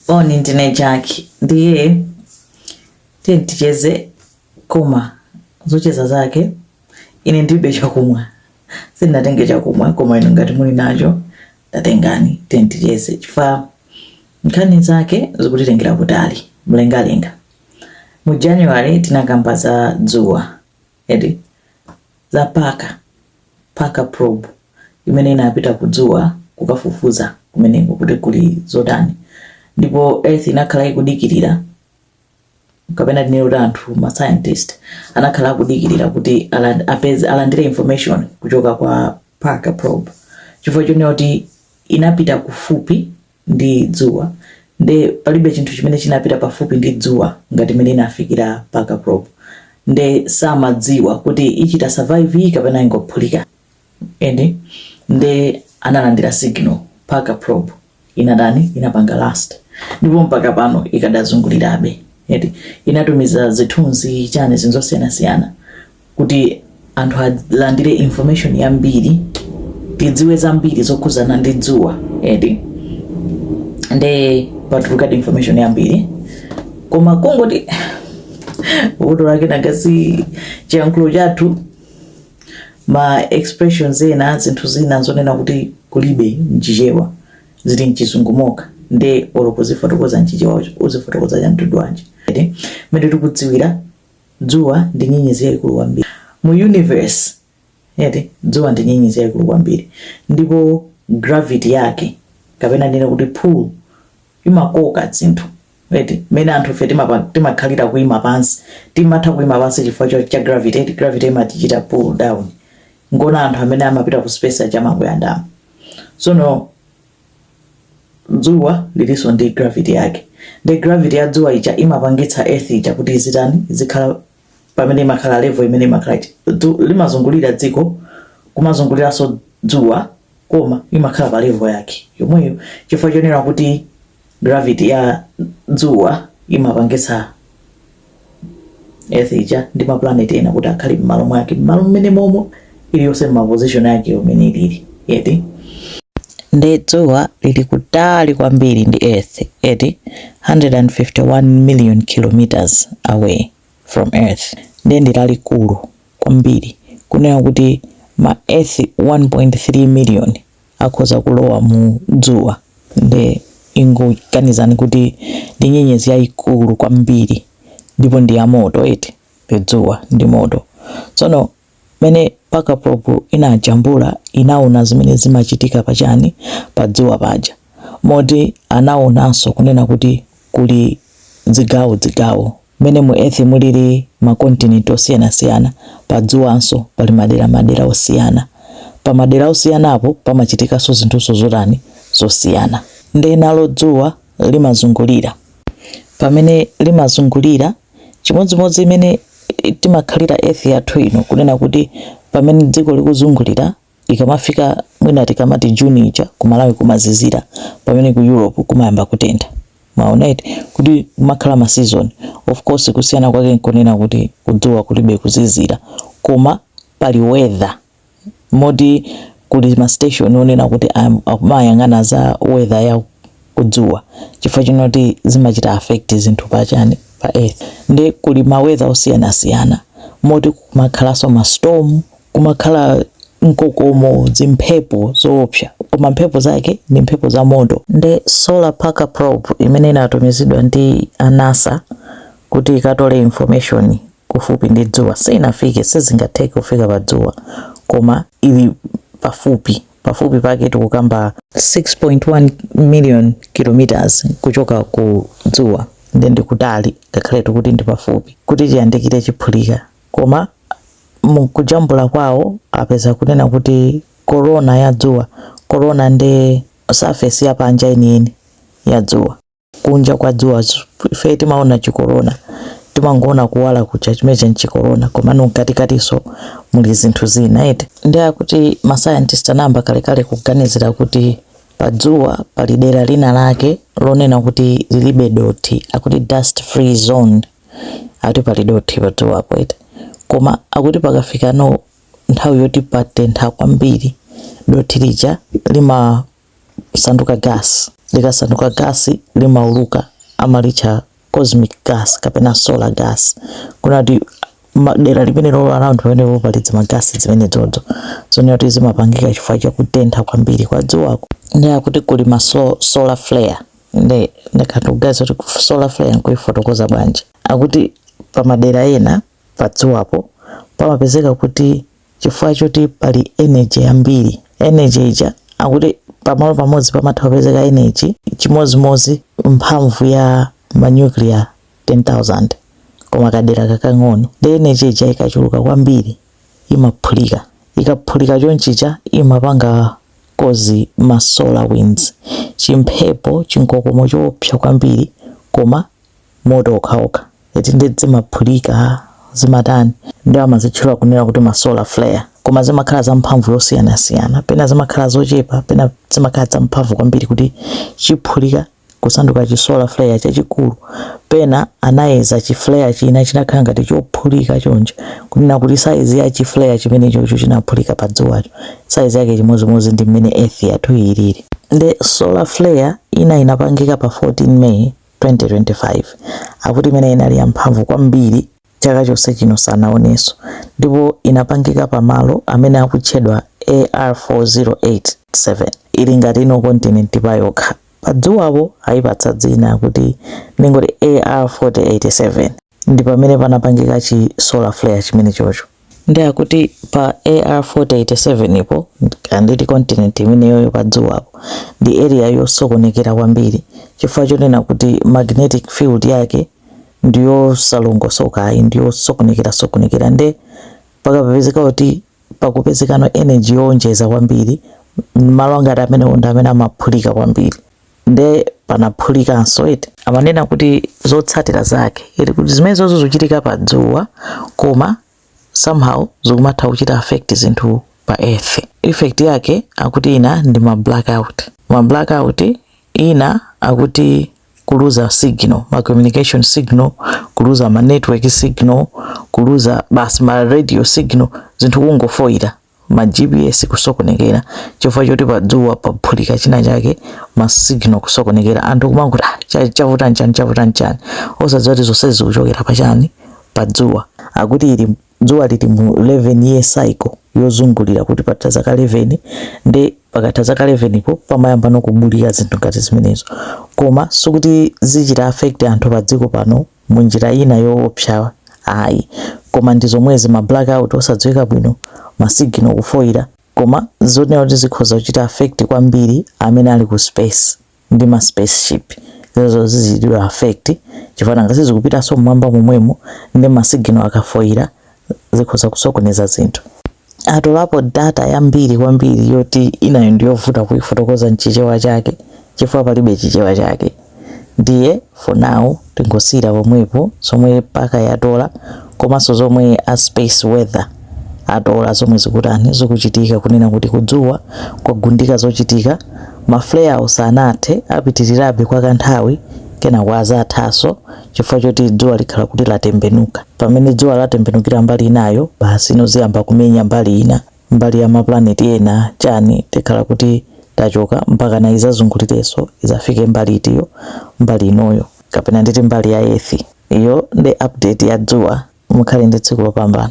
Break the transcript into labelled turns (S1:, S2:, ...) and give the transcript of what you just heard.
S1: Oni ndine Jack ndiye tiyeni ticheze koma zocheza zake ine ndilibe chakumwa sindinatenge chakumwa koma inu ngati muli nacho tatengani tiyeni ticheze chifukwa nkhani zake zikutitengera kutali mlengalenga mu january tinakamba za dzuwa eti za paka parker probe imene inapita kudzuwa kukafufuza kumeneko kuti kuli zotani ndipo earth inakhala ikudikirira kapena tinene kuti anthu ma scientist anakhala akudikirira kuti ala- apeze alandire information kuchoka kwa parker probe chifukwa chonena kuti inapita kufupi ndi dzuwa nde palibe chinthu chimene chinapita pafupi ndi dzuwa ngati mene inafikira parker probe nde samadziwa kuti ichita survive kapena ingophulika ende nde analandira signal parker probe inatani inapanga last ndipo mpaka pano ikadazungulirabe eti inatumiza zithunzi chani zinthu zosiyanasiyana kuti anthu alandire information yambiri tidziwe zambiri zokhudzana ndi dzuwa eti nde patulukadi information yambiri koma kungoti vuto lake nangasi chiyankhulo chathu ma expressions ena zinthu zina zonena kuti kulibe mchichewa zili mchizungu mokha nde olo kuzifotokoza mchichewa uzifotokoza cha mtundu wanji eti mmene tikudziwira Dzuwa ndi nyenyezi yaikulu kwambiri mu universe, eti dzuwa ndi nyenyezi yaikulu kwambiri ndipo gravity yake kapena tinene kuti pull imakoka zinthu eti mene anthu fe timakhalira tima kuima pansi timatha kuima pansi chifukwa cha, cha gravity eti gravity imatichita pull down mukaona anthu amene amapita ku space aja amangoyandama sono dzuwa lilinso ndi gravity yake ndi gravity ya dzuwa ija imapangitsa earth ija kuti izitani izikhala pamene imakhala level imene imakhala ija. Dzu- limazungulira dziko kumazunguliranso dzuwa koma imakhala pa level yake yomweyo chifukwa chonena kuti Gravity ya dzuwa imapangitsa earth ija ndi ma planet ena kuti akhale m'malo mwake m'malo mmene momo iliyonse m'ma position yake yomwe ilili eti nde dzuwa lili kutali kwambiri ndi earth eti 151 million kilometers away from earth nde ndi lalikulu kwambiri kunena kuti ma earth 1.3 million akhoza kulowa mu dzuwa. Nde ingoganizani kuti ndi nyenyezi yayikulu kwambiri ndipo ndi ya moto eti ndi dzuwa ndi moto. Tsono mene Parker Probe inajambula inaona zimene zimachitika pa chani pa dzuwa paja. Moti anaonanso kunena kuti kuli dzigawo dzigawo. Mmene mu earth mulili ma continent osiyanasiyana, pa dzuwanso pali madera madera osiyana. Pa madera osiyanapo pamachitikanso zinthunso zotani? Zosiyana. Nde nalo dzuwa limazungulira. Pamene limazungulira, chimodzimodzi mmene imakhalira earth yathu ino, kunena kuti pamene dziko likuzungulira, ikamafika mwina tikamati June ija ku Malawi kumazizira pamene ku Europe kumayamba kutentha mwaona eti kuti kumakhala ma season of course kusiyana kwake nkunena kuti kudzuwa kulibe kuzizira koma pali weather moti kuli ma station onena kuti am- akumayang'ana za weather ya kudzuwa chifukwa chinoti zimachita affect zinthu pachani pa earth nde kuli ma weather osiyanasiyana moti kumakhalanso ma storm kumakhala mkokomo zimphepo zoopsa koma mphepo zake ndi mphepo za moto nde solar parker probe imene inatumizidwa ndi a nasa kuti ikatole information kufupi ndi dzuwa siinafike sizingatheke kufika pa dzuwa koma ili pafupi pafupi pake tikukamba 6.1 million kilometers kuchoka ku dzuwa nde ndikutali ngakhale tikuti ndi pafupi kuti chiyandikire chiphulika Koma mkujambula kwawo apeza kunena kuti korona ya dzuwa, korona ndi surface ya panja yeniyeni ya dzuwa, kunja kwa dzuwa. Ife timaona chikorona, timangoona kuwala kuja, chimene chija nchikorona, komano mkatikatinso muli zinthu zina, eti. Ndiye akuti ma scientist anayamba kalekale kuganizira kuti pa dzuwa pali dera lina lake lonena kuti lilibe dothi, akuti dust free zone. ati pali dothi padzuwapo eti koma akuti pakafikano nthawi yoti patentha kwambiri dothi lija limasanduka gas likasanduka gas limauluka amalitcha cosmic gas kapena solar gas kunena kuti ma- dera limene lolo around pamenepo pali dzimagasi zimene dzodzo zonena kuti zimapangika chifukwa chakutentha kwambiri kwa dzuwako ndiye akuti kuli ma so- solar flare nde ndakhala ndikuganiza kuti solar flare nkuifotokoza bwanji akuti pamadera ena padzuwapo pamapezeka kuti chifukwa choti pali energy yambiri energy ija akuti pamalo pamodzi pamatha kupezeka energy chimodzimodzi mphamvu ya manyukliya 10000 koma kadera kakang'ono nde energy ija ikachuluka kwambiri imaphulika ikaphulika chonchicha imapanga kozi ma solar winds chimphepo chinkokomo choopsa kwambiri koma moto okhaokha eti ndi zimaphulika zimatani ndi amazitchula kunena kuti ma solar flare koma zimakhala za mphamvu yosiyanasiyana pena zimakhala zochepa pena zimakhala za mphamvu kwambiri kuti chiphulika kusanduka chi solar flare chachikulu pena anayeza chi flare china chinakhala ngati chophulika choncho kunena kuti saizi ya chi flare chimenechocho chinaphulika pa dzuwacho saizi yake chimodzimodzi ndi mmene earth yathu ilili nde solar flare ina inapangika pa 14 may 2025 akuti imene inali yamphamvu kwambiri chaka chonse chino sanaonenso ndipo inapangika pa malo amene akutchedwa AR4087 ili ngati ino kontinenti payokha. Padzuwapo aipatsa dzina kuti ndingoti AR4087 ndi pamene panapangika chi solar flare chimenechocho. ndi akuti pa AR 4087 po anditi continent imeneyoyo pa dzuwapo ndi area yosokonekera kwambiri chifukwa chonena kuti magnetic field yake ndiyosalongosokayi ndiyosokonekera sokonekera nde pakapezeka kuti pakupezekano energy yowonjeza kwambiri malo ngati amenewo ndi amene amaphulika kwambiri nde panaphulikanso eti amanena kuti zotsatira zake zili kuti zimene zozo zochitika pa dzuwa koma somehow zikumatha kuchita affect zinthu pa earth effect yake akuti ina ndi ma blackout ma blackout ina akuti kuluza signal ma communication signal kuluza ma network signal kuluza basi ma radio signal zinthu kungofoira ma GPS kusokonekera chifukwa choti padzuwa paphulika china chake ma signal kusokonekera anthu kumangokuti ah, cha- chavuta nchani chavuta nchani osadziwa kuti zonsezi zikuchokera pa chani pa dzuwa akuti ili dzuwa lili mu 11 year cycle yozungulira kuti patha zaka 11 ndi pakatha zaka 11 po pamayamba nokuphulika zinthu ngati zimenezo koma sikuti zichita affect anthu pa dziko pano munjira ina yoopsa ayi koma ndi zomwezi ma blackout osadziwika bwino, ma signal kufoila koma zonena kuti zikhoza kuchita affect kwambiri amene ali ku space ndi ma spaceship izozo zizichitidwa affect chifukwa nanga sizikupitanso mmwamba momwemo ndi ma signal akafoila zikhoza kusokoneza zinthu. atolapo data yambiri kwambiri yoti inayo ndiyovuta kuifotokoza mchichewa chake chifukwa palibe chichewa chake ndiye for now tingosiyira pomwepo zomwe Parker yatola komanso zomwe a space weather atola zomwe zikutani zikuchitika kunena kuti kudzuwa kwagundika zochitika maflare awo sanathe apitirirabe kwa kanthawi kenako azathanso chifukwa choti dzuwa likhala kuti latembenuka pamene dzuwa latembenukira mbali inayo basi inozo ziyamba kumenya mbali ina mbali ya maplaneti ena chani tikhala kuti tachoka mpakana izazungulireso izafike mbali itiyo mbali inoyo kapena nditi mbali ya earth iyo ndi update ya dzuwa mukhale ndi tsiku lopambana